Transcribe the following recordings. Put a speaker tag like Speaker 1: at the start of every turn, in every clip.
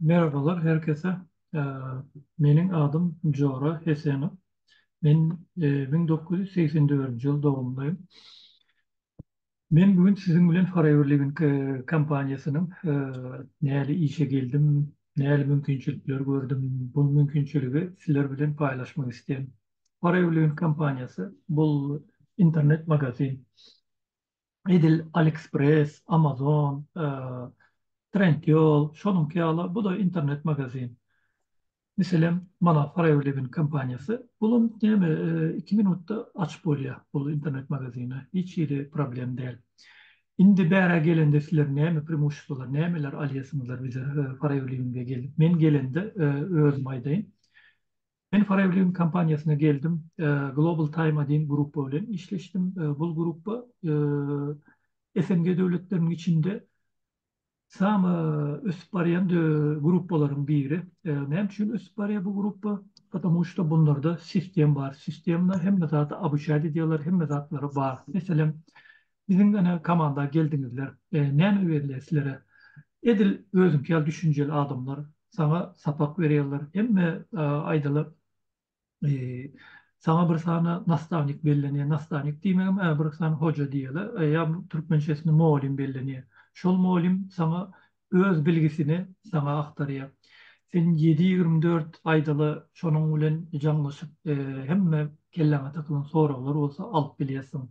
Speaker 1: Merhabalar her kese. Meniň adym Jora Hesenow. Men müň dokuz ýüz segsen dördünji ýyl dogumlym. Men bu gün siziň bilen Forever Living kompaniýasynyň näle işe geldim, näle mümkinçilikler gördüm, bu mümkinçiligi sizler bilen paýlaşmak isleýän. Forever Living kompaniýasy bul internet magazin. edil AliExpress, Amazon, Trendyol, şonuňky ýaly, bu-da internet magazin. Meselem, mana Foreverliving kompaniýasy, bulam näme, iki minutda açyp bolýar bu internet magazini, hiç hili problem däl. Indi bärä gelende sizler näme premusstwolar, nämeler alýarsyňyzlar bize Foreverliving-e gelip? Men gelende özüm aýdaýyn. Men Foreign kompaniýasyna geldim. Global Time diýen grupba bilen işleşdim. Bul grupba SNG döwletleriniň içinde samy ösüp barýan gruppalaryň biri. Näme üçin ösüp barýar bu grupba? Patamu şda bunlarda sistem bar. Sistemda hemme zady obuçat edýärler, hemme zatlary bar. Meselem, Biziň ene komanda geldiňizler näme berýär sizlere edil özüňki ýaly düşünjeli adamlar saňa sapak berýärler hemme aýdalar saňa bir sany nastavnik bellenýär nastavnik diýmegem ä bir sany hoja diýele ýa türkmençesini mugallym bellenýär şol mugallym saňa öz bilgisini saňa aktarýar sen ýedi ýigrimi dört aýdaly şonuň bilen jaňlaşyp hemme kelläňe takylan soraglar bolsa alyp bilýärsiň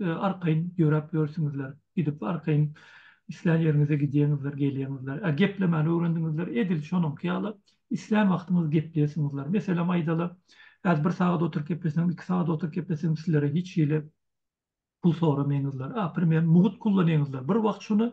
Speaker 1: arkaýyn ýöräp ýörsüňizler, gidip arkaýyn islän ýeriňize gidýeňizler, gelýeňizler. Ä geplemäni öwrendiňizler, edil şonuňky ýaly islän wagtyňyz gepleýesiňizler. Meselem aýdaly, häzir bir sagat oturyp gepleseňiz, iki sagat oturyp gepleseňiz sizlere hiç hili pul soramaýňyzlar. Ä primer mugt kullanýaňyzlar. Bir wagt şuny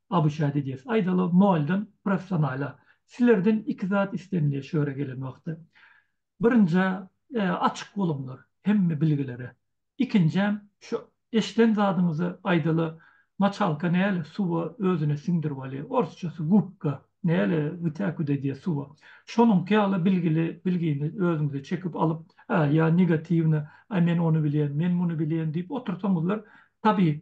Speaker 1: ABŞ-a gidýäs. Aýdaly, noldan professionala. Silerden iki zat istenilýär şu ýere gelen wagty. Birinji, açyk boluňlar hemme bilgilere. Ikinjäm, şu eşden zadyňyzy, aýdaly, moçalka näle suwa özüne siňdirip alýar, orsçasy gubka, näle wytäkut edýär suwa. Şonuňky ýaly bilgili bilgini özüňize çekip alyp, ä, ýa negatiwny, aý men ony bilýän, men muny bilýän diýip otursaňyzlar, tabii,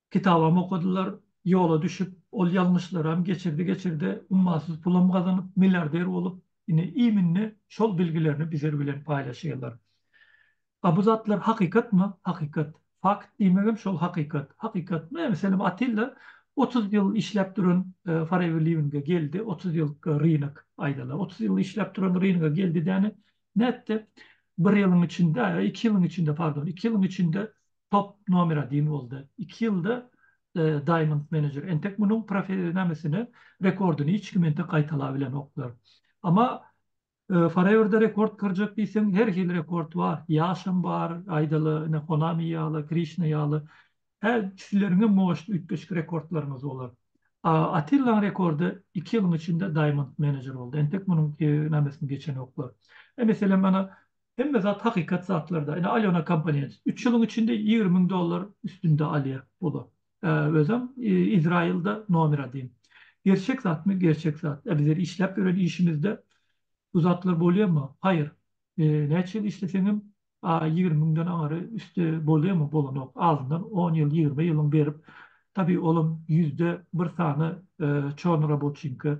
Speaker 1: Kitabam okadylar, ýola düşüp, ol ýalňyşlaram geçirdi-geçirdi, ummasyz pulam gazanyp, milliarder bolup, ine, iýminne şol bilgilerini bizler bilen paýlaşýarlar. A bu zatlar hakykatmy? Hakykat. Fakt diýmegem şol hakykat. Hakykat. Mä, meselem, Atilla otuz ýyl işläp duran Foreverliving-e geldi, otuz ýyl rynek, aýdaly, otuz ýyl işläp duran rynek-e geldi däne, nätdi? Bir ýylyň içinde, iki ýylyň içinde, pardon, iki ýylyň içinde top nomer adin boldy. Iki ýylda Diamond Manager. Entek munuň profe-nämesini, rekordyny hiç kim entek gaýtalabilenoklar. Emma Forever-de rekord kyrjak diýseň, her hili rekord bar. Ýaşam bar, aýdaly, ine, Konami ýaly, Krişna ýaly. Hä, sizleriňem moşt üýtgeşik rekordlaryňyz bolar. A Attillaň rekordy iki ýylyň içinde Diamond Manager boldy. Entek munuň, nämesini geçenoklar. E, meselem, ana, Hemme zat hakykat zatlarda. Ine Alyona kompaniýasy. Üç ýylyň içinde ýigrimi müň dollar üstünde alýar pulu. Özem Izraýylda nomer adin. Gerçek zatmy? Gerçek zat. Biz ýeri işläp ýören işimizde bu zatlar bolýarmy? Haýyr. Näçe ýyl işleseňem ýigrimi müňden aňry üsti bolýarmy? Bolanok. Azyndan on ýyl, ýigrimi ýylyň berip, tabi olam ýüzde bir sany çornoraboçinka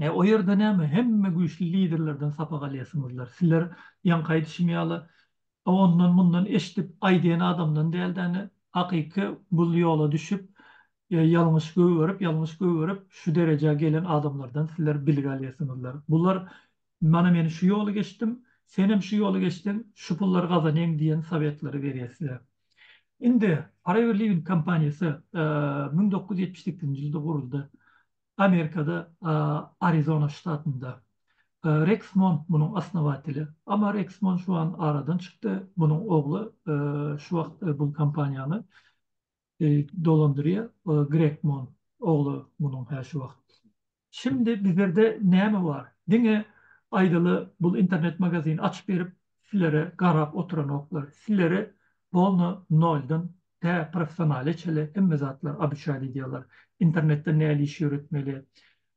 Speaker 1: He o ýerde näme hemme güýçli liderlerden sapak alýasyňyzlar. Sizler ýaňky aýdyşym ýaly ondan mundan eşdip aýdýan adamdan dälde indi hakyky bu ýola düşüp ýalňyş gögerip ýalňyş gögerip şu derejä gelen adamlardan sizler bilgi alýasyňyzlar. Bular mana men şu ýoly geçdim senem şu ýoly geçseň şu pullary gazanaýyň diýen sowetleri berýär size. Indi Forever Living kompaniýasy müň dokuz ýüz ýetmiş sekizinji ýylda guruldy. Amerikada Arizona ştatynda. Reks Mont munuň osnowateli. Emma Reks Mont şu an aradan çykdy. Munuň ogly şu wagt bu kompaniýany dolandyrýar. Greg Mont ogly munuň hä şu wagt. Şindi bizlerde näme bar? Diňe aýdaly bul internet magazin açyp berip sizlere garap oturanoklar. Sizleri polno noldan tä professionale çeli hemme zatlar abyçaýly edýärler. Internetde näli iş ýöretmeli,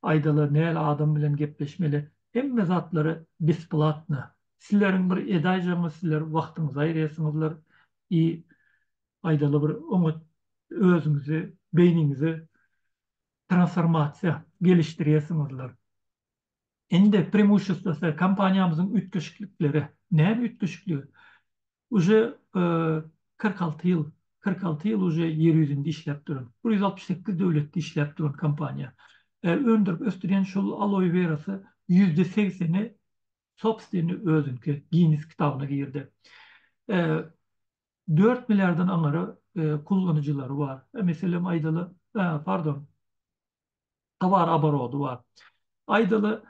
Speaker 1: aýdaly näli adam bilen gepleşmeli hemme zatlary besplatna. Sizleriň bir edaýjagyňyz sizler wagtyňyzy aýyrýarsyňyzlar i aýdaly bir oňat özüňizi beýniňizi transformasiýa gelişdirýärsiňizler. Indi premushestwosy kompaniýamyzyň üýtgeşiklikleri. Näme üýtgeşikligi? Uje kyrk alty ýyl, kyrk alty ýyl uje ýer ýüzünde işläp duran, bir ýüz altmyş sekiz döwletde işläp duran kompaniýa. Öndürip ösdürýän şol aloe werasy ýüzde segseni sobstveni özüniňki Ginnes kitabyna girdi. Dört milliardan aňary kullanyjylary bar. Meselem aýdaly, pardon, towar oborody bar. Aýdaly,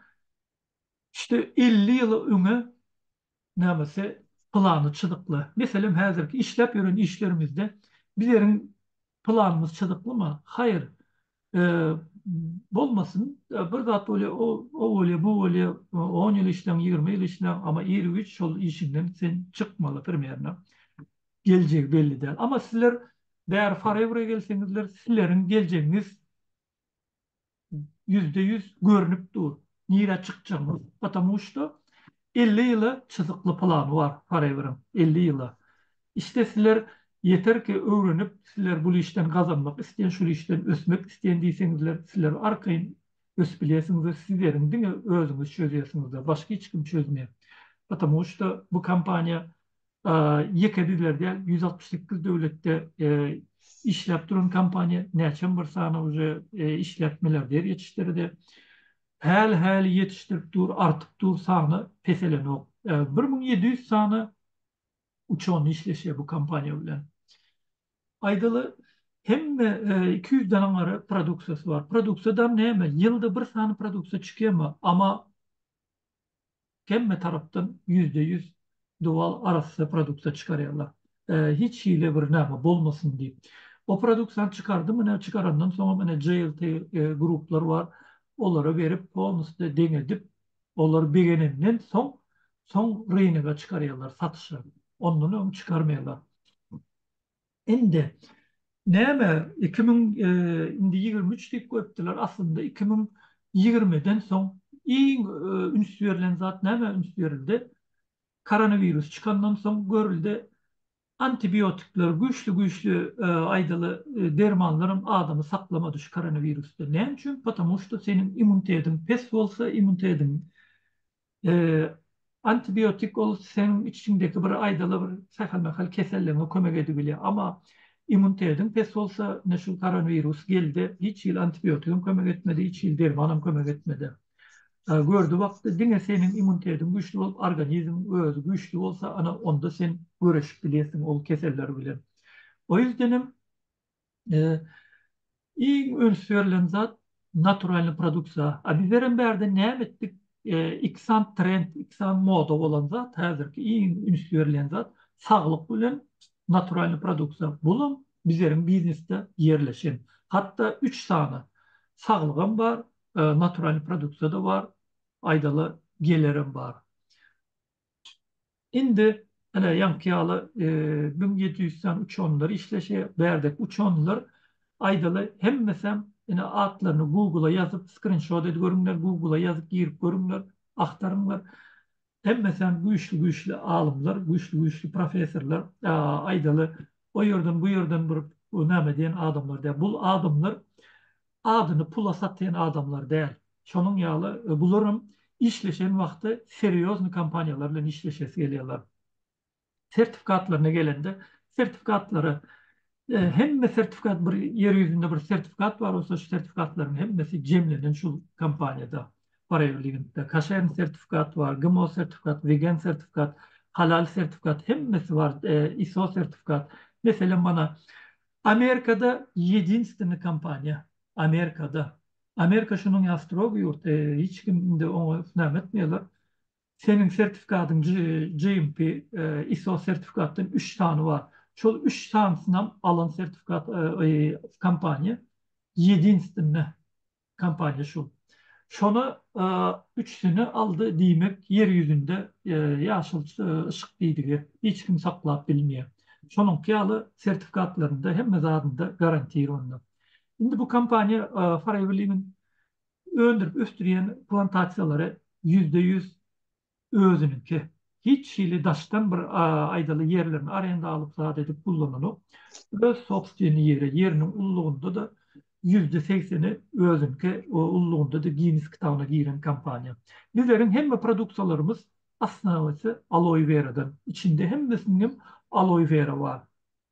Speaker 1: işte, elli ýyl öňe nämesi plany çyzykly. Meselem, häzirki işläp ýören işlerimizde bizleriň planymyz çyzyklymy? Haýyr. Bolmasyn, bir zat bolýar, o bolýar, bu bolýar, on ýyl işläň, ýigrimi ýyl işläň, emma ir-üç şol işiňden sen çykmaly, primerno. geljegi belli däl. Amma sizler bäri Forever-e gelseňizler, sileriň geljegiňiz ýüzde ýüz görnüp dur, nirä çykjagyňyz. Patamu şto elli ýyla çyzykly plany bar Forever-iň, elli ýyla. Iste sizler ýeterki öwrenip, sizler bul işden gazanmak isleýän, şul işden ösmek isleýän diýseňizler, sizler arkaýyn ösüp bilýärsiňiz we sizleriň diňe özüňiz çözýärsiňiz-de, başga hiç kim çözmeýär. Patamu şto bu kompaniýa Ýeke bizler däl, ýüz altmyş sekiz döwletde işläp duran kompaniýa, näçem bir sany uje işläp milliarder ýetişdirdi. Häli-häli ýetişdirip dur, artyp dur, sany peselenok. Bir müň ýedi ýüz sany uçony işleşýär bu kompaniýa bilen. Aýdaly, hemme iki ýüz danaň gara produksiýasy bar. Produksiýa dam näme? Ýylda bir sany produksiýa çykýarmy? Ama. hemme tarapdan ýüzde ýüz dowal arassa produkta çykarýarlar. Hiç hili bir name bolmasyn diýip. O produksiýany çykardym, ine çykarandan soňam ine JLT gruplar bar, olara berip polnusde deň edip, olar begenenden soň, soň rynega çykarýarlar satyşa. Ondan öň çykarmaýarlar. Indi näme iki müň indi ýigrimi üç diýip goýupdylar aslynda iki müň ýigrimiden soň iň üns berlen zat näme üns berildi koronawirus çykandan soň görüldi antibiotikler güýçli güýçli aýdaly dermanlaram adamy saklamady şu koronawirusdan näme üçin potamuşto seniň immuntediň pes bolsa immuntediň Antibiotik ol seň içiňdeki bir aýdaly bir sähel-mähel keselligiňe kömek edip bilýär. Amma immunitediň pes bolsa, ine şu koronwirus geldi, hiç hili antibiotigem kömek etmedi, hiç hili dermanam kömek etmedi. Gördi wagty diňe seniň immunitediň güýçli bolup, organizmiň özi güýçli bolsa, ana onda sen göreşip bilýärsiň ol keseller bilen. O ýüzdenem Iň üns berlen zat naturalnyý produksiýa. A bizlerem bärde näme etdik? Ikisant trend, ikisant moda bolan zat häzirki iň üns berlen zat saglyk bilen naturalnyý produksiýa. Bulam bizleriň biznesde ýerleşen. Hatda üç sany saglygam bar, naturalnyý produksiýa-da bar, aýdala gelerem bar. Indi ine ýaňky ýaly müň ýedi ýüz sany uçanlar işleşýär. Bärdeki uçanlar aýdaly hemmesem ine atlaryny Google-a ýazyp skrinşot edip görüňler, Google-a ýazyp girip görüňler, agtaryňlar. Hemmesem güýçli-güýçli alymlar, güýçli-güýçli professorlar. Aýdaly o ýerden bu ýerden bir näme diýen adamlar däl. Bu adamlar adyny pula satýan adamlar däl. Şonuň ýaly bularam işleşen wagty serýozny kompaniýalar bilen işleşesi gelýärler. Sertifikatlaryna gelende, sertifikatlary hemme sertifikat bir ýer ýüzünde bir sertifikat bar bolsa şu sertifikatlaryň hemmesi jemlenen şul kompaniýada Paraeurligintde. Kaşern sertifikat bar, GMO sertifikat, Wegen sertifikat, Halal sertifikat hemmesi bar, ISO sertifikat. Meselem mana Amerikada ýedinstwny kompaniýa Amerikada Amerika şunuň ýa strogy ýurt hiç kim indi oňa näme etmeýärler seniň sertifikatyň GMP ISO sertifikatdan üç sany bar şol üç sanysynam alan sertifikat kompaniýa ýedinstwny kompaniýa şu. Şona üçüsini aldy diýmek ýer ýüzünde ýaşyl yşyk diýdigi hiç kim saklap bilmeýär. Şonuňky ýaly sertifikatlarynda hemme zadynda garantir onda. Indi bu kompaniýa Forever Living öndürip ösdürýän plantasiýalary ýüzde ýüz özüniňki. Hiç hili daşdan bir aýdaly ýerlerini arenda alyp zat edip gullananok. Öz sobstweni ýeri, ýeriniň ullugynda-da ýüzde segseni özüňki ullugynda-da Ginnes kitabyna giren kompaniýa. Bizleriň hemme produksiýalarymyz osnawasy aloe weradan. Içinde hemmesiniňem aloe wera bar.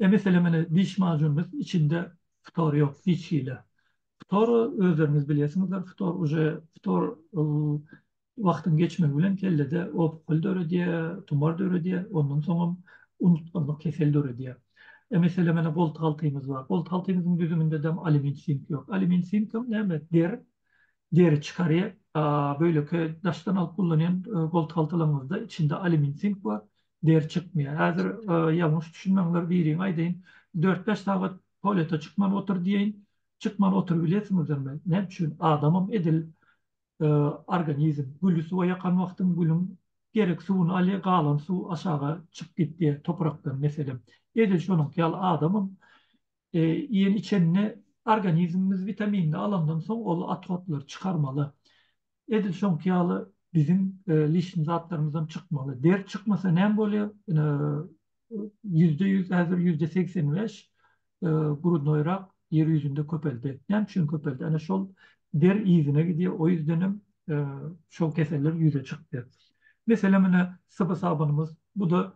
Speaker 1: E mesele mine diş majunymyz içinde ftor yok hiç hili. Ftor özleriňiz bilyesiňizdir ftor uje ftor wagtyň geçmegi bilen kellede opukl döredýä, tumar döredýä ondan soňam unutganlyk kesel döredýä. E mesele mine golty haltymyz bar. Golty haltymyzyň düzüminde dem alumin sink yok. Alumin sinkam näme der deri çykarýa. Böyleki daşdan alyp gullanýan golty haltalaryňyzda içinde alumin sink bar. Ders çykmaýar. Häzir ýalňyş düşünmäňler biriňe aýdaýyn. Dört-bäş sagat tualete çykman otur diýeýin. Çykman oturybilesiňizmi? Näme üçin? Adamam edil organizm. Güli suwa ýakan wagtyň gülüň gerek suwuny alýar, galan suw aşaga çykyp gidýär toprakdan meselem. Edil şonuňky ýaly adamam Iýen-içende organizmimiz witaminini alandan soň ol otrodlary çykarmaly. Edil şoňky ýaly biziň lişni zatlarymyzam çykmaly. Deri çykmasa näme bolýar? Ýüzde ýüz, häzir ýüzde segsen bäş grudnoýrak ýer ýüzünde köpeldi. Näme üçin köpeldi? Ana şol der yzyna gidýär, o ýüzdenem şol keseller ýüze çykýar. Meselem ine Syby sabynymyz, bu-da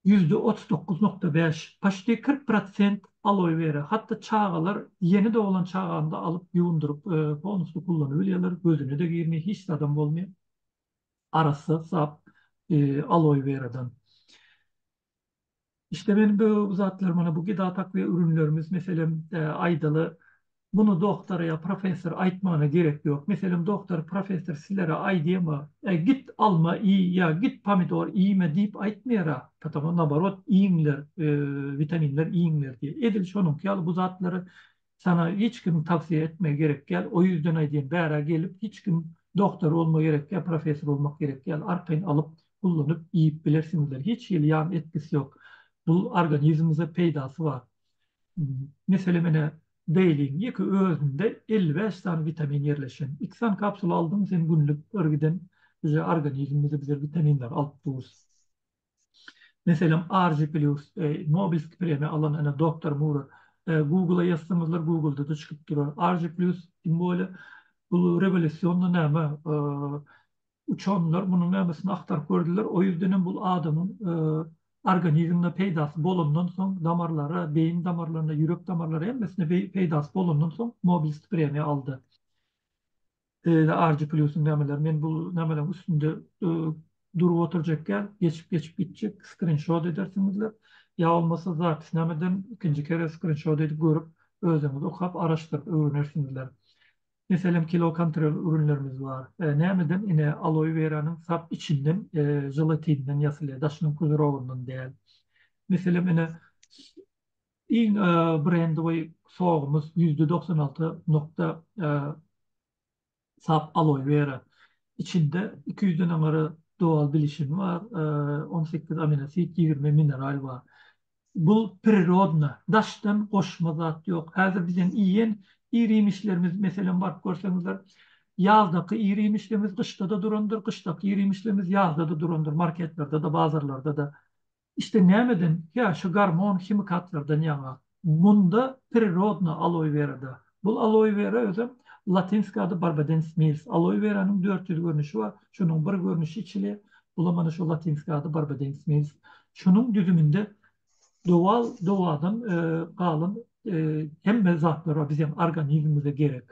Speaker 1: ýüzde otuz dokuz nokta bäş, paçti kyrk prosent aloe vera, hatda çagalar ýeni doglan çaganda alyp ýuwundyryp tonusda kullanybilýärler, gözüne-de girmeý, hiç zadam bolmaý, arassa sap aloe weradan. Işte men bu zatlar mana bu gidatak we ürünlerimiz meselem aýdaly Muny doktora ýa professora aýtmagyna gerek ýok. Meselem, doktor, professor sizlere aýdýarmy, Äý, git alma iý ýa git pomidor iýme diýip aýtmaýar-a, patagon naborot, iýiňler, witaminler iýiňler diýýär. Edil şonuňky ýaly bu zatlary sana hiç kimiň tawsiýe etmegi gerek däl. O ýüzden aýdýan, bärä gelip hiç kim doktor bolmak gerek däl, professor bolmak gerek däl. Arkaýyn alyp, gullanyp, iýip bilersiňizler. Hiç hili ýan etkisi ýok. Bu organizmiňize peýdasy bar. Meselem ine Daily-iň ýeke özünde elli bäş sany witamin ýerleşen. Iki sany kapsula aldyň sen günlük bir giden uje organizmimize bize witaminleri alyp durus. Meselem RG Plus Nobelski premiýa alan ene doktor Mura Google-a ýazsaňyzlar Google-da-da çykyp durar. RG Plus kim bolýa? Bu rewolýusionna näme? Uçurymlar munuň nämesin agtaryp gördüler, o ýüzdenem bul adamyň organizmine peýdasy bolandan soň, damarlara, beýin damarlaryna, ýürek damarlara hemmesine peýdasy bolandan soň Nobel spremiýa aldy. Beýle argy plýusyň nämeleri, men bul nämeleriň üstünde durup oturjak däl, geçip geçip gitjek, skrinşot edersiňizler, ýa bolmasa zapisnameden ikinji kere skrinşot edip görüp özüňiz okap araşdyryp öwrenersiňizler. Meselem kilokontrol ürünlerimiz bar. Nämeden ine aloe weranyň sap içinden želatinden ýasylýar daşynyň pudrowyndan däl. Meselem ine iň brendowy sogumyz ýüzde doksan alty nokta sap aloe wera içinde iki ýüzden aňary dowal bilişini bar on sekiz aminosit ýigrimi mineral bar. Bu prirodna, daşdan goşma zat ýok. Häzir biziň iýen ir-iýmişlerimiz, meselem, baryp görseňizler, ýazdaky ir-iýmişlerimiz gyşda-da durandyr, gyşdaky ir-iýmişlerimiz ýazda-da durandyr, marketlerde-de, bazarlarda-da. Iste nämeden? Hä, şu gormon, himikatlardan ýaňa. Munda prirodna aloe werada, Bu aloe vera özem latynski ady Barbadens milis. Aloe weranyň dört ýüz görnüşi bar. Şunuň bir görnüşi içilýär. Bula mana şu latynski ady Barbadens milis. Şunuň düzüminde dowal dowadan galan hemme zatlar bar biziň organizmimize gerek.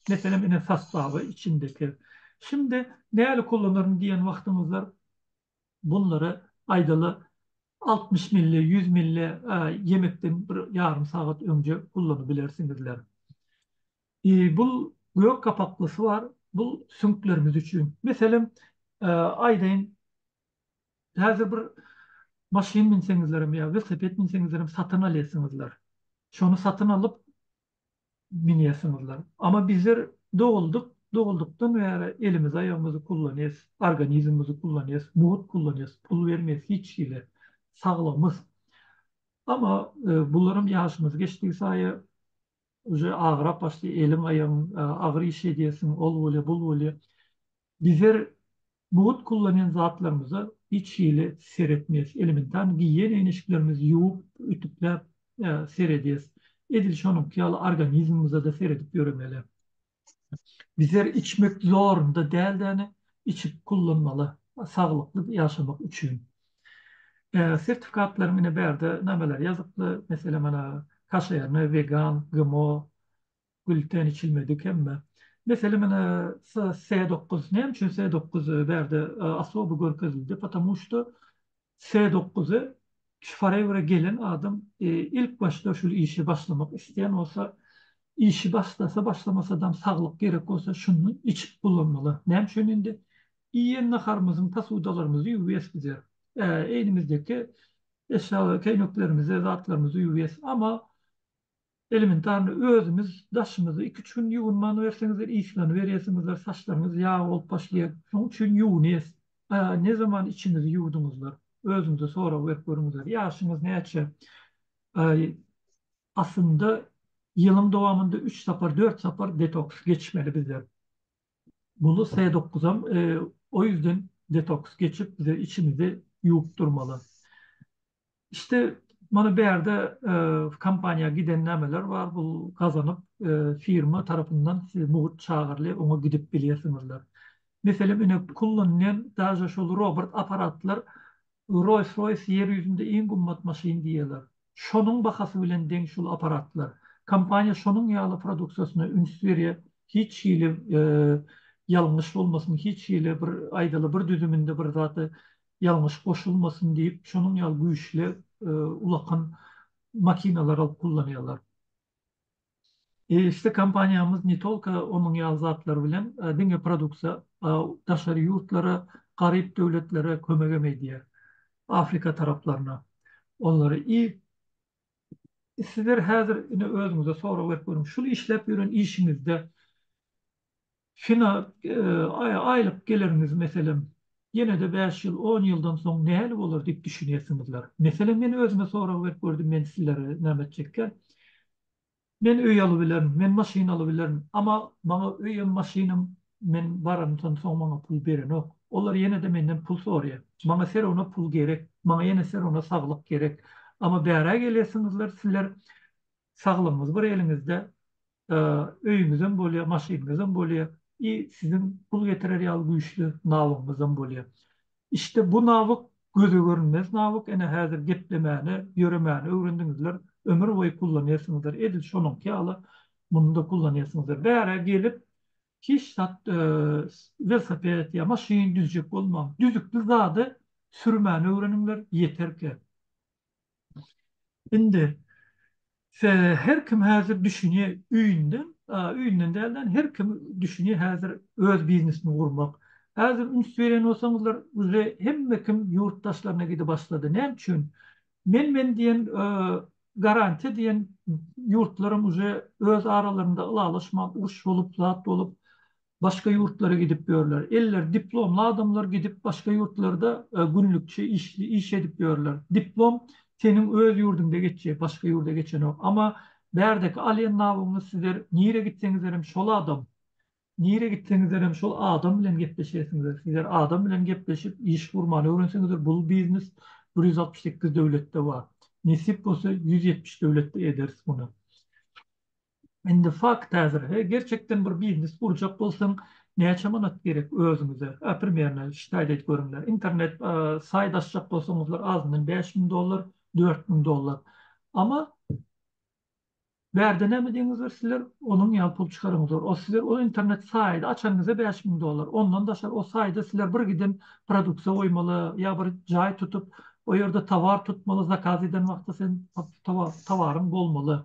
Speaker 1: Meselem ine sastawy içindeki. Şindi nälik ulanaryn diýen wagtyňyzda Bunlary aýdaly altmyş milli, ýüz milli ýemekden bir ýarym sagat öňje ullanybilersiňizler. Bul gök gapaklysy bar, bul süňklerimiz üçin. Meselem, aýdaýyn, häzir bir maşyn münseňizlerem ýa welosiped münseňizlerem satyn alýarsyňyzlar. Şony satyn alyp, münýärsiňizler. Ama bizler doguldyk, doguldykdan bäri elimizi aýagymyzy kullanýas, organizmimizi kullanýas, mugt kullanýas, pul bermeýas hiç hili, saglygymyz. Ama bularam ýaşymyz geçdigi saýa uje agyrap başlaýar, eliň aýagyň agyr iş edýärsiň, ol bolýar, bul bolýar. Bizler mugt kullanýan zatlarymyza hiç hili seretmeýäs. Elementar giýen eýneşiklerimizi ýuwup, ütükläp seredýäs. Edil şonuňky ýaly organizmimize-de seredip ýöremeli. Bizler içmek zorunda däldäni içip kullanmaly saglykly ýaşamak üçin. Sertifikatlaryň ine bärde nameleri ýazyply, meselem, ana kaşerny, wegan, GMO, Gülten içilmedik hemme. Mesele menä S dokuz. Näme üçin S dokuz bärde osoby görkezildi? Potamu şto S dokuzy şu forever gelen adam ilk başda şul işe başlamak isleýän bolsa işi başlasa başlamasadam saglyk gerek bolsa şundan içip bulanmaly. Näme üçin indi iýen naharymyzyň posudalarymyzy ýuwýas bize. Egnimizdeki eşýa keýneklerimizi zatlarymyzy ýuwýas. Ama Elementarny özümiz daşymyzda iki-üç gün ýuwunmanyberseňizler yslanyberýärsiňizler, saçlaryňyz ýag bolup başlaýar. Şoň üçin ýuwunýas. A ne zaman içiňizi ýuwduňyzlar? Özüňize sorag berip görüňizler. Ýaşyňyz näçe? Aý, aslynda ýylyň dowamynda üç sapar, dört sapar detoks geçmeli bizler. Muny S dokuzam o ýüzden detoks geçip bize içimizi ýuwup durmaly. İşte mana bärde kompaniýa giden nämeler bar bul gazanyp firma tarapyndan siz mugt çagyrly oňa gidip bilýärsiňizler. Meselem ine kullanýan daže şol robrt aparatlar Roys Roys ýer ýüzünde iň gymmat maşyn diýýärler. Şonuň bahasy bilen deň şul aparatlar. Kompaniýa şonuň ýaly produksiýasyna üns berýär hiç hili ýalňyş bolmasyn hiç hili bir aýdaly bir düzüminde bir zady ýalňyş goşulmasyn diýip, şonuň ýaly güýçli ulakan makinalar alyp kullanýarlar. Eýeçde kompaniýamyz ne tolko onuň ýaly zatlar bilen diňe produksiýa daşary ýurtlara, garyp döwletlere kömegem edýär. Afrika taraplaryna onlara i Sizler häzir ine özüňize sorag berip görüň, şul işläp ýören işiňizde Fina, aýlyk geliriňiz, meselem, ýene-de bäş ýyl, on ýyldan soň nähili bolar diýip düşünýärsiňizler. Meselem, men özüme sorag berip gördüm, men sizlere näme etjekkäm? Men öý alybilerin, men maşyn alybilerin, emma maňa öýem, maşynam men baranymdan soň maňa pul berenok. Olar ýene-de menden pul soraýar. Maňa serone pul gerek, maňa ýene serone saglyk gerek. Emma bärä gelýärsiňizler, sizler Saglygyňyz bir eliňizde, öýüňizem bolýar, maşynyňyzam bolýar i siziň pul getirer ýaly güýçli nawyňyzam bolýar. Işte bu nawyk göze görünmez nawyk, ene häzir geplemäni, ýöremäni öwrendiňizler, ömür boýy kullanýarsyňyzdyr, edil şonuňky ýaly muny-da kullanýarsyňyzdyr. Bärä gelip, hiç zat, welosiped ýa maşyn düzjek bolmaň, düzükli zady sürmäni öwreniňler, ýeterkä. Indi her kim häzir düşünýär öýünden, öýünden dälde her kim düşünýär häzir öz biznesini gurmak. Häzir üns berýän bolsaňyzlar uje hemme kim ýurt daşlaryna gide başlady. Näme üçin? Men men diýen garantiýa diýen ýurtlaram uje öz aralarynda ylalaşman uruş bolup zat bolup Başga ýurtlara gidip ýörler. Elleri diplomly adamlar gidip başga ýurtlarda günlükçi iş edip ýörler. Diplom seniň öz ýurduňda geçýär, başga ýurda geçenok. Amma bärdeki alýan nabyňyz sizler nirä gitseňizlerem şol adam. Nirä gitseňizlerem şol adam bilen gepleşersiňizler. Sizler adam bilen gepleşip iş gurmany öwrenseňizler bul biznes bir ýüz altmyş sekiz döwletde bar. Nesip bolsa ýüz ýetmiş döwletde ederis muny. Indi fakt häzir, he, gerçekden bir biznes gurjak bolsaň, näçe manat gerek özüňize? A primerno şitaýt edip görüňler. Internet saýt açjak bolsaňyzlar azyndan bäş müň dollar, dört müň dollar. Amma bärde näme diýeniňizdir sizler, onuň ýaly pul çykaraňyzlar. O sizler o internet saýdy açanyňyzda bäş müň dollar. Ondan daşary o saýda sizler bir giden produksiýa goýmaly ýa bir jaý tutup, o ýerde towar tutmaly, zakaz eden wagty sen towaryň bolmaly.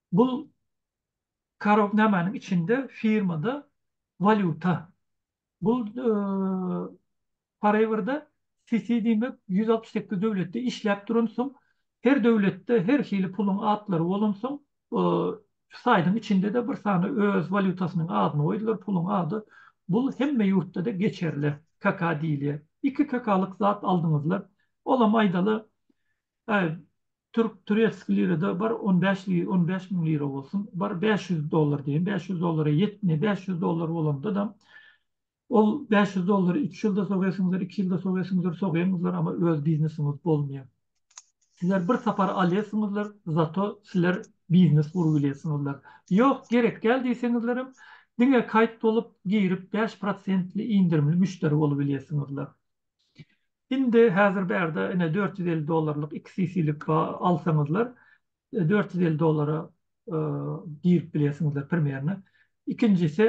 Speaker 1: Bul karok namanyň içinde firmada walýuta. Bul Forever-da CC diýmek ýüz altmyş sekiz döwletde işläp duran soň her döwletde her hili puluň atlary bolan soň şu saýdyň içinde-de bir sany öz walýutasynyň adyny goýdular puluň ady bul hemme ýurtda-da geçerli kaka diýilýär iki kakalyk zat aldyňyzlar olam aýdaly Türk turetski lirada bar on bäş li on bäş müň lira bolsun bar bäş ýüz dollar diýen bäş ýüz dollara ýetme bäş ýüz dollar bolandadam ol bäş ýüz dollary üç ýylda sogesyňyzdyr iki ýylda sogesyňyzdyr sogeňizdir ama öz biznesiňiz bolmaýa sizler bir sapar alýasyňyzdyr zato sizler biznes gurup bilýäsiňizdir ýok gerek däl diýseňizlerem diňe kaýt bolup girip bäş prosentli indirimli müşderi bolup bilýäsiňizdir. Indi häzir bärde ine dört ýüz elli dollarlyk iki CC-lik alsaňyzlar, dört ýüz elli dollara girip bilýärsiňizler Premierine. Ikinjisi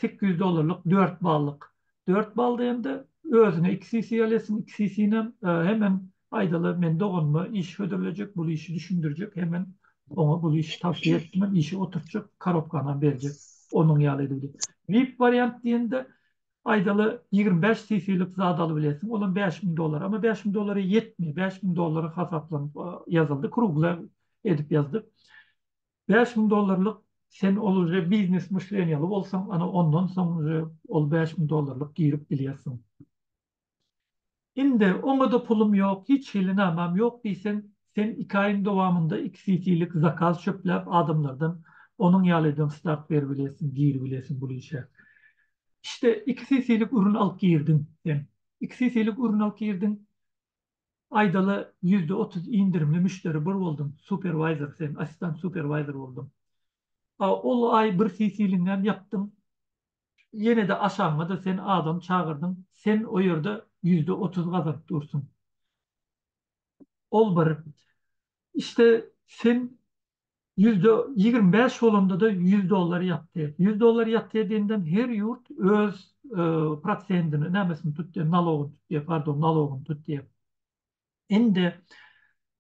Speaker 1: sekiz ýüz dollarlyk dört ballyk. Dört balda hem-de özüne iki CC alýarsyň, iki CC-nem hemem aýdaly men doganyma iş hödürlejek, bul işi düşündirjek, hemem oňa bul işi tawsiýe etdim, işe oturtjak, korobkanam berjek onuň ýaly edip. Vip wariant diýende Aýdaly, ýigrimi bäş cc-lik zat alybilesiň, olam bäş müň dollara. Emma bäş müň dollara ýetmeýär. Bäş müň dollara hasaplanyp ýazyldy, krugle edip ýazdyk. Bäş müň dollarlyk sen ol uje biznes myşleniýaly bolsaň, ana ondan soň uje ol bäş müň dollarlyk girip bilýärsiň. Indi oňa-da pulum ýok, hiç hili namam ýok diýseň, sen iki aýyň dowamynda iki CT-lik zakaz çöpläp adamlardan onuň ýalydan start beribilesiň, giribilesiň bul işe. Işte, iki CT-lik ürün alyp girdiň sen. Iki CT-lik ürün alyp girdiň, aýdaly ýüzde otuz inderimli müşderi bir bolduň, superwaýzor sen, assistant superwaýzor bolduň. A ol aý bir CT-liňem ýapdyň, Ýene-de aşagyňa-da sen adam çagyrdyň, sen o ýerde ýüzde otuz gazaryp dursuň. Ol bir. Işte, sen ýüzde ýigrimi bäş bolanda-da ýüz dollar ýatdy. Ýüz dollar ýatdy diýenden her ýurt öz prosendini, nämesini tutdy, nalogyny tutdy, pardon, nalogyny tutdy. Indi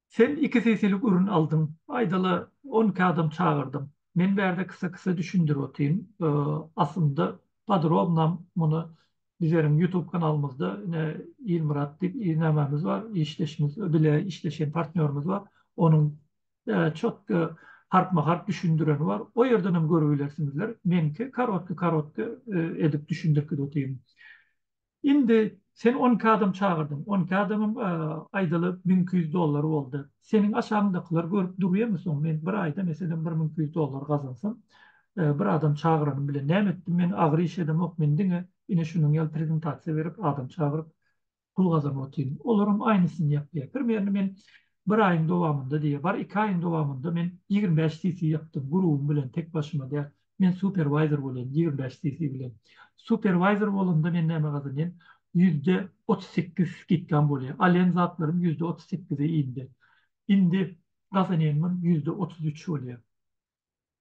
Speaker 1: Sen iki sesilik ürün aldyň. Aýdaly on iki adam çagyrdyň. Men bärde kysa-kysa düşündirip otyryn. Aslynda podrobnam muny bizeriň ýutub kanalymyzda ine Ilmyrat diýip nämämiz bar, işdeşimiz, bile işleşen partnýorymyz bar. Onuň çotga harpma-harp düşündireni bar. O ýerdenem görübilersiňizler. Meňki korotky-korotky edip düşündirip gidip otyryn. Indi sen on iki adam çagyrdyň. On iki adamyň aýdyly müň iki ýüz dollary boldy. Seniň aşagyňdakylar görüp durýamy soň men bir aýda meselem bir müň iki ýüz dollar gazansam, bir adam çagyranym bilen näme etdim men, agyr iş edemok, men diňe ine şunuň ýaly prezentasiýa berip, adam çagyryp pul gazanyp otyryn. Olaram aýnysyny ýapýar. Primerno men bir aýyň dowamynda diýe, bar iki aýyň dowamynda men ýigrimi bäş CC ýapdym, grubym bilen tek başyma däl. Men superwayzer bolýan ýigrimi bäş cc bilen. Superwayzer bolanda men näme gazanýan? Ýüzde otuz sekiz skidkam bolýa. Alýan zatlarym ýüzde otuz sekize indi. Indi gazanýanymam ýüzde otuz üç bolýa.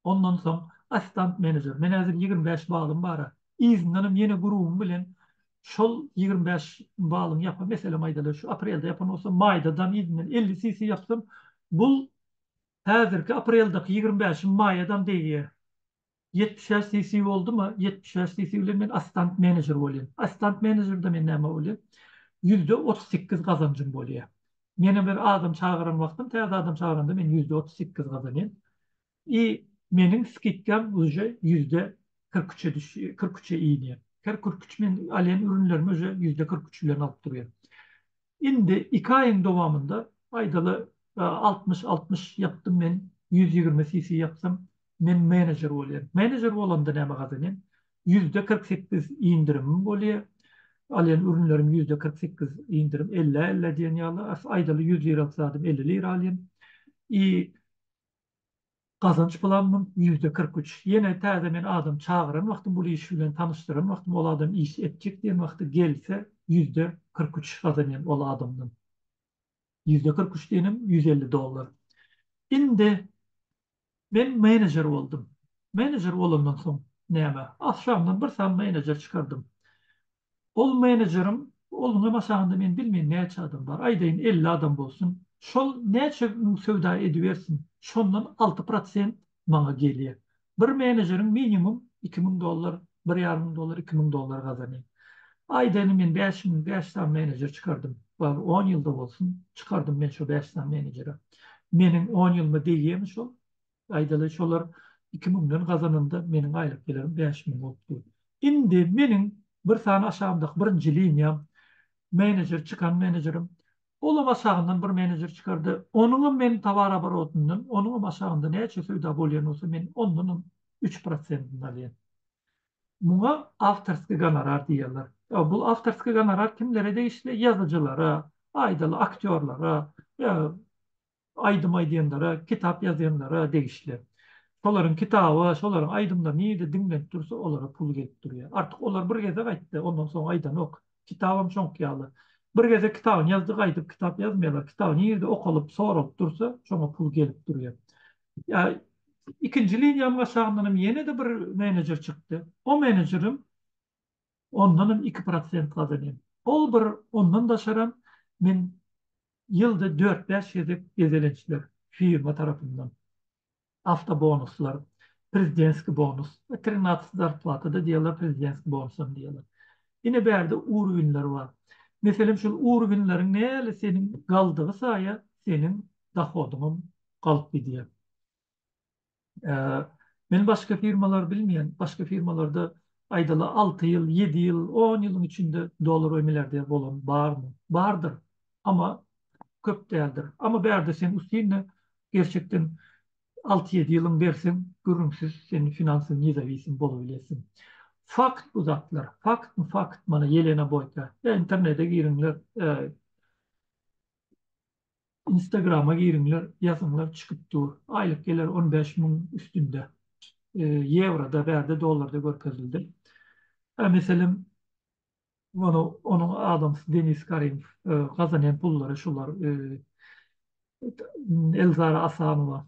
Speaker 1: Ondan soň assistant menejer. Men häzir ýigrimi bäş balym bara. Yzyndanam ýene grubym bilen şol ýigrimi bäş balyň ýapy meselem aýdaly şu aprelde ýapan bolsam maýda dam yzyndan elli cc ýapsam bul Häzirki apreldaky ýigrimi bäşi maýadam degýär. Ýetmiş bäş CC boldumy, ýetmiş bäş CC bilen men assistant menejer bolýan. Assistant menejerden men näme bolýan? Ýüzde otuz sekiz gazanjym bolýar. Meniň bir adam çagyran wagtym, täze adam çagyranda men ýüzde otuz sekiz gazanýan. I meniň skidkam uje ýüzde kyrk üçe düşýär, kyrk üçe inýär. Her kyrk üç men alýan ürünlerimi uje ýüzde kyrk üç bilen alyp durýan. Indi iki aýyň dowamynda aýdaly altmyş altmyş ýapdym men ýüz ýigrimi CC ýapsam men menejer bolýan. Menejer bolanda näme gazanýan? Ýüzde kyrk sekiz indirimim bolýa. Alýan ürünlerim ýüzde kyrk sekiz indirim ellä ellä diýen ýaly aýdaly ýüz liralyk zadym elli lira alýan. I Gazanç planymyň ýüzde kyrk üç. Ýene täze men adam çagyran wagtym, bul iş bilen tanyşdyran wagtym, ol adam iş etjek diýen wagty gelse, ýüzde kyrk üç gazanýan ol adamdan. Ýüzde kyrk üç diýenim ýüz elli dollar. Indi men menejer boldum. Menejer bolandan soň näme? Agşamdan bir sany menejer çykardym. Ol menejeriň Ol ňa maşagynda men bilmeýin näçe adam bar, aýdaýyn elli adam bolsun. Şol näçe müň söwda edibersin, şondan alty prosent maňa gelýä. Bir menejeriň minimum iki müň dollar, bir ýarym müň dollar, iki müň dollar gazanýa. Aýdaýyn men bäş müň, bäş sany menejer çykardym. Bar, on ýylda bolsun, çykardym men şo bäş sany menejere. Meniň on ýylyma degýämi şol? Aýdaly, şolar iki müňden gazananda meniň aýlyk gelirim bäş müň bolupdy. Indi meniň bir sany aşagymdaky birinji liniýam, menejer, çykan menejerim, olam aşagyndan bir menejer çykardy. Onuňam meniň towaraborotymdan, onuňam aşagynda näçe söwda bolýan bolsa, men ondanam üç prosentini alýan. Muňa awtorskiý gonorar diýýärler. Bu awtorskiý gonorar kimlere degişli? Ýazyjylara, aýdaly, aktýorlara, ýa aýdym aýdýanlara, kitap ýazýanlara degişli. Şolaryň kitaby, şolaryň aýdymlary nirede diňlenip dursa, olara pul gelip durýar. Artyk olar bir gezek aýtdy, ondan soň aýdanok. Kitabam şoňky ýaly. Bir gezek kitabyny ýazdy, gaýdyp kitap ýazmaýarlar. Kitaby nirede okalyp, soralyp dursa, şoňa pul gelip durýar. Ýa ikinji liniýamyň aşagyndanam ýene-de bir menejer çykdy. O menejerim ondanam iki prosent gazanýan. Ol bir ondan daşaram men ýylda dört-bäş gezek gezelençler firma tarapyndan, awtobonuslar, prezidentskiý bonus, trinatsty zarplata-da diýýärler, prezidentskiý bonusam diýýärler. Ine bärde urwinler bar. Meselem şol urwinleriň näli seniň galdygy saýa seniň dohodyňam galyp gidýär. Men başga firmalary bilmeýän, başga firmalarda aýdaly alty ýyl, ýedi ýyl, on ýylyň içinde dolar we milliarder bolan barmy? Bardyr, amma köp däldir. Amma bärde sen üstünde gerçekden alty-ýedi ýylyň berseň, gürrüňsiz sen finansiw nezawisim bolabilersiň. Fakt bu zatlar. Faktmy fakt, mana Ýelena Boýka. Internede giriňler. Instagrama giriňler ýazyňlar çykyp dur. Aýlyk geler on bäş müň üstünde. Ýewroda bärde dollarda görkezildi. Hä meselem ony onuň adamsy Denis Karimow gazanýan pullary şular Elzara Asanowa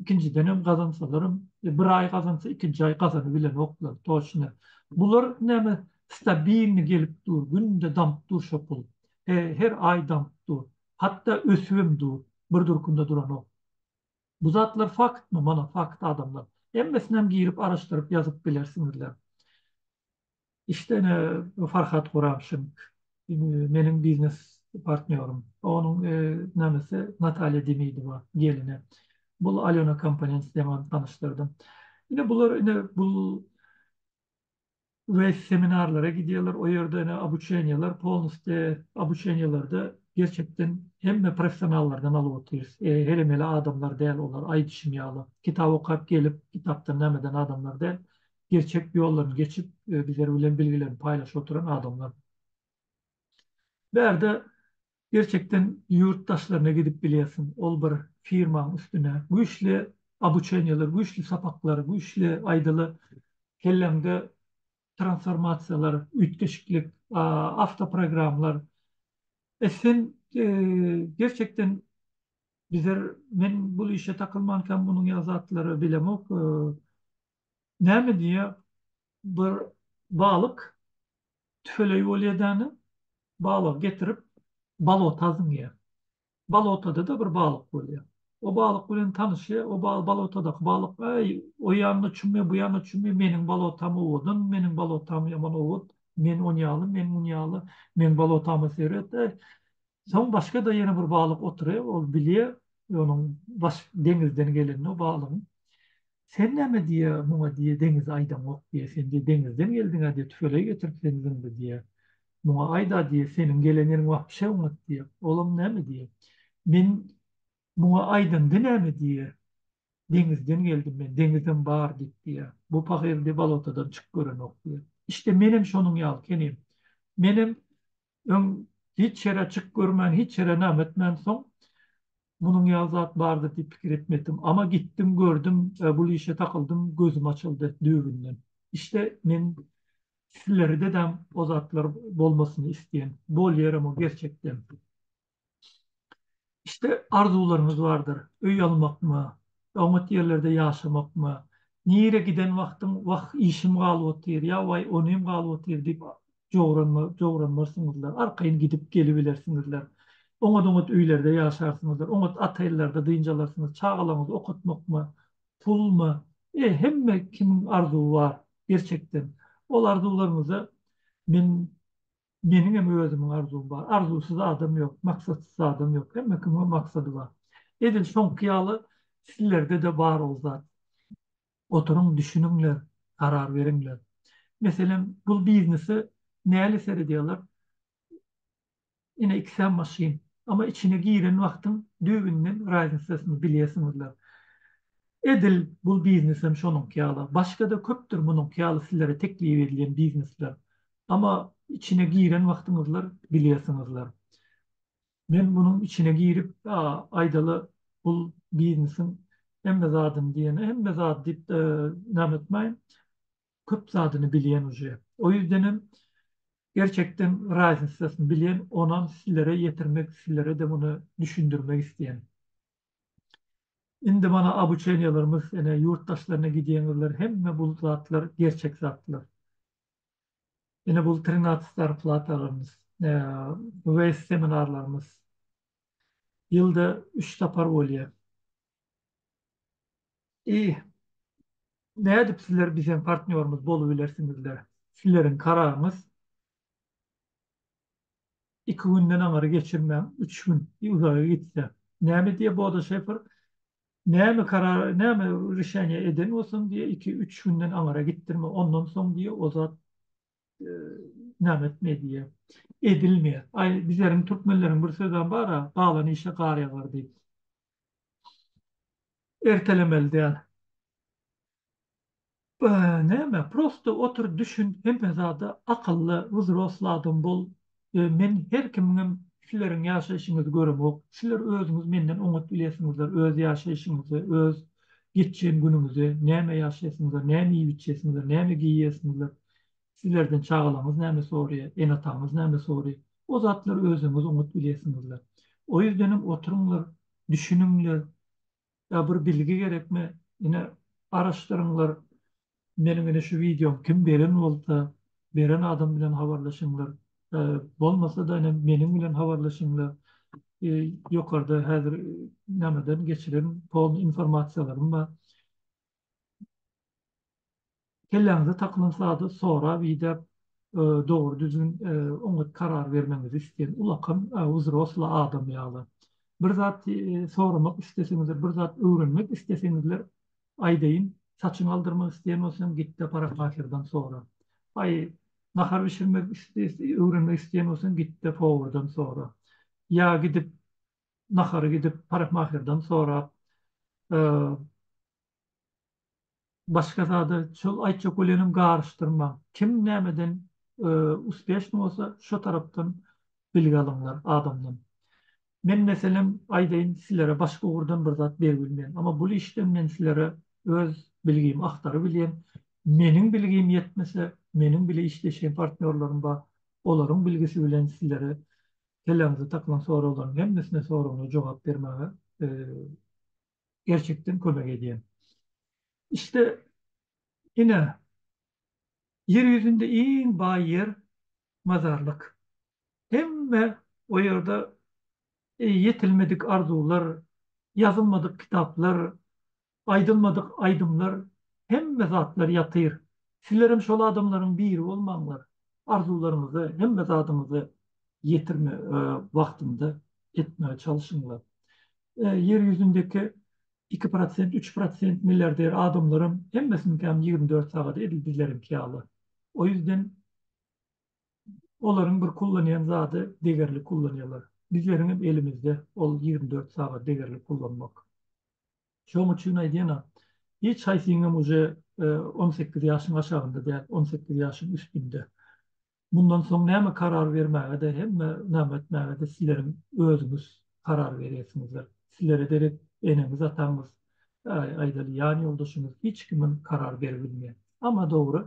Speaker 1: ikinjidenem gazansalaram bir aý gazansa ikinji aý gazanybilenoklar toçna bular näme stabilny gelip dur günde damyp dur şo pul he her aý damyp dur hatda ösübem dur bir durkunda duranok bu zatlar faktmy mana fakt adamlar hemmesinem girip araşdyryp ýazyp bilersiňizler. Işde ine Farhat Guramşin meniň biznes partnýorym. Onuň namesi Natalýa Demidowa gelini. Bul Alýona Komponents diýen ony tanyşdyrdym. Ine bular ine bul we seminarlara gidýärler. O ýerde ine obuçeniýeler polnusty obuçeniýelerde gerçekden hemme professionallardan alyp otyrys. Her emeli adamlar däl olar aýdyşym ýaly. Kitap okap gelip kitapdan nämeden adamlar däl. gerçek ýoldan geçip bizler bilen bilgilerini paýlaşyp oturan adamlar. Bärde gerçekden ýurt daşlaryna gidip bilýärsiň, ol bir firmaň üstüne güýçli obuçeniýeler, güýçli sapaklar, güýçli aýdaly kelleňde transformasiýalar, üýtgeşiklik, awtoprogramlar. Sen gerçekden bizler men bul işe takylmankäm munuň ýaly zatlary bilemok. Näme diýýär, bir balyk tüfeleý bolýar däne, balygy getirip balota zyňýar. Balotada-da bir balyk bolýar. O balyk bilen tanyşýar, o balotadaky balyk, Äý, o ýanyna çümme, bu ýanyna çümme, meniň balotam owadan, meniň balotam ýaman owat, men on ýaly, men mun ýaly, meň balotama seret, äý, Soň başga-da ýene bir balyk otury, ol bilýär, onuň baş deňizden gelenini o balygyň. Sen näme diýýär, muňa diýýär, deňizi aýdaňok diýýär, sen diýýär, deňizden geldiň-ä diýýär, tüfeleý getirip seni zyňdy diýýär. Muňa aýt-a diýýär, seniň gelen ýeriň wapşe oňat diýýär. Olam näme diýýär, men muňa aýdamda näme diýýär, deňizden geldim men, deňizem bar diýip diýýär. Bu pahyr diýýär, balotadan çyk görenok diýýär. Işte menem şonuň ýaly kenim. Menem Öň hiç ýere çyk görmän, hiç ýere näme etmän soň munuň ýaly zat bardyr diýip pikir etmepdim. Ama gitdim, gördüm we bul işe takyldym, gözüm açyldy düýbünden. Işte men sizlere dedem o zatlar bolmasyny isleýän. Bolýarem o gerçekden. Iste arzuwlaryňyz bardyr, öý almakmy, oňat ýerlerde ýaşamakmy, nire giden wagtyň wah işim galyp otyr ýa waý onym galyp otyr diýip jowranmarsyňyzlar, arkaýyn gidip gelibilersiňizler. Oňat-oňat öýlerde ýaşarsyňyzlar, oňat otellerde dynç alarsyňyz, çagalaryňyzy okatmakmy, pulmy, e hemme kimiň arzuwy bar gerçekden. Ol arzuwlaryňyza men Meniňem özümiň arzuwym bar. Arzuwsyz adam ýok, maksatsyz adam ýok. Hemme kimiň maksady bar. Edil şoňky ýaly sizlerde-de bar ol zat. Oturyň, düşüniňler, karar beriňler. Meselem, bul biznese näli seredýärler? Ine, ikisem maşyn. Emma içine giren wagtyň düýbünden raznisasyny bilýärsiňizler. Edil bul biznesem şonuňky ýaly. Başga-da köpdür munuňky ýaly sizlere teklip edilen biznesler. Amma içine giren wagtyňyzlar bilýärsiňizler. Men munuň içine girip, a, aýdaly, bul biznesiň hemme zadyny diýen, hemme zady diýip näme etmäýin, köp zadyny bilýän uje. O ýüzdenem, gerçekden raznisasyny bilýän, onam sizlere ýetirmek, sizlere-de muny düşündirmek isleýän. Indi mana obuçeniýalarymyz, ene, ýurt daşlaryna gidýäňizler, hemme bul zatlar gerçek zatlar. Ine bul trinatsy zarplatalarymyz, weýz seminarlarymyz. Ýylda üç sapar bolýa. I. Nädip sizler biziň partnýorymyz bolubilersiňizler? Sizleriň kararyňyz. Iki günden aňyry geçirmäň, üç gün, uzaga gitse. Näme diýýä Bodo Şefer? Näme karar, näme rişeniýe eden bolsaň diýe, iki, üç günden aňara gitdirme, ondan soň diýe o zat näme etme diýe, edilme. Aý, bizleriň türkmenleriň bir sözem bar-a, galan işe gar ýagar diýip. Ertelemeli däl. Näme prosto otur düşün hemme zada akylly wzrostly adam bol men her kimiňem sileriň ýaşaýşyňyzy göremok siler özüňiz menden oňat bilesiňizler öz ýaşaýşyňyzy öz geçýän günüňizi näme ýaşaýsyňyzlar näme iýip içýesiňizler näme geýýesiňizler silerden çagalaňyz näme soraýa enataňyz näme soraýa o zatlary özüňiz oňat bilesiňizler o ýüzdenem oturyňlar düşüniňler Ýa bir bilgi gerekmi? Ine garaşdyryňlar. Meniň ine şu wideom kim beren bolsa, beren adam bilen habarlaşyňlar. Bolmasa-da ine meniň bilen habarlaşyňlar. Ýokarda häzir nämeden geçiren pol informasiýalarym bar. Kelläňize takylan zady sorap, idäp, dogry düzgün, oňat karar bermegiňizi isleýän ulakam wzrosly adam ýaly. Bir zat soramak isleseňizler, bir zat öwrenmek isleseňizler, aýdaýyn, saçyňy aldyrmak isleýän bolsaň, git-de parykmaserden sora. Aý, nahar bişirmek öwrenmek isleýän bolsaň, git-de powurdan sora. Ýa gidip, nahary gidip parykmaherden sorap, başga zada şol aýtjak bolýanym garyşdyrmaň. Kim nämeden uspeşnyý bolsa şo tarapdan bilgi alyňlar adamdan. Men meselem aýdaýyn sizlere başga ugurdan bir zat beribilmeýän. Amma bul işden men sizlere öz bilgimi agtarybilýän. Meniň bilgim ýetmese meniň bile işleşýän partnýorlarym bar. Olaryň bilgisi bilen sizlere kelläňize takmaň soraglaryň hemmesine soragyna jogap bermäge gerçekden kömek edýän. Işte ine ýer ýüzünde iň baý ýer mazarlyk. Hemme o ýerde ýetilmedik arzuwlar, ýazylmadyk kitaplar, Aýdylmadyk aýdymlar hemme zatlar ýatyr sizlerem şol adamlaryň biri bolmaňlar arzuwlaryňyzy hemme zadyňyzy ýetirme wagtynda etmege çalşyňlar ýer ýüzündeki iki prosent üç prosent milliarder adamlaram hemmesiniňkäm ýigrimi dört sagat edil bizleriňki ýaly o ýüzden Olaryň bir kullanýan zady degerli kullanýarlar. Bizleriňem elimizde ol ýigrimi dört sagat degerli kullanmak. Şoň üçin aýdýan-a, hiç haýsyňam uje on sekiz ýaşyň aşagynda däl, on sekiz ýaşyň üstünde. Mundan soň näme karar bermäge-de, hemme name etmäge-de sizleriň özüňiz karar berýärsiňizdir. Sizlere derek eneňiz-ataňyz, aýdaly, ýan ýoldaşyňyz hiç kimem karar beribilmeýär. Amma dogry,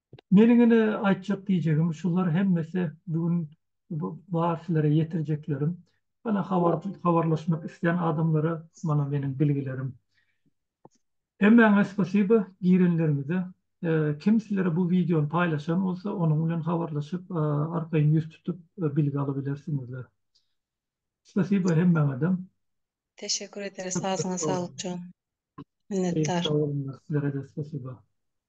Speaker 1: Meniň ine aýtjak diýjegim şular hemmesi bu gün bar sizlere ýetirjeklerim. Ýöne habar habarlaşmak isleýän adamlara mana meniň bilgilerim. Hemmäňe spasiba girenleriňize. Kim sizlere bu wideony paýlaşan bolsa onuň bilen habarlaşyp arkaýyn ýüz tutup bilgi alybilersiňizler. Spasiba hemmäňedem. Teşekkür ederis sazyňa saglyk jon. Minnetdar. Sag boluňlar sizlere-de spasiba.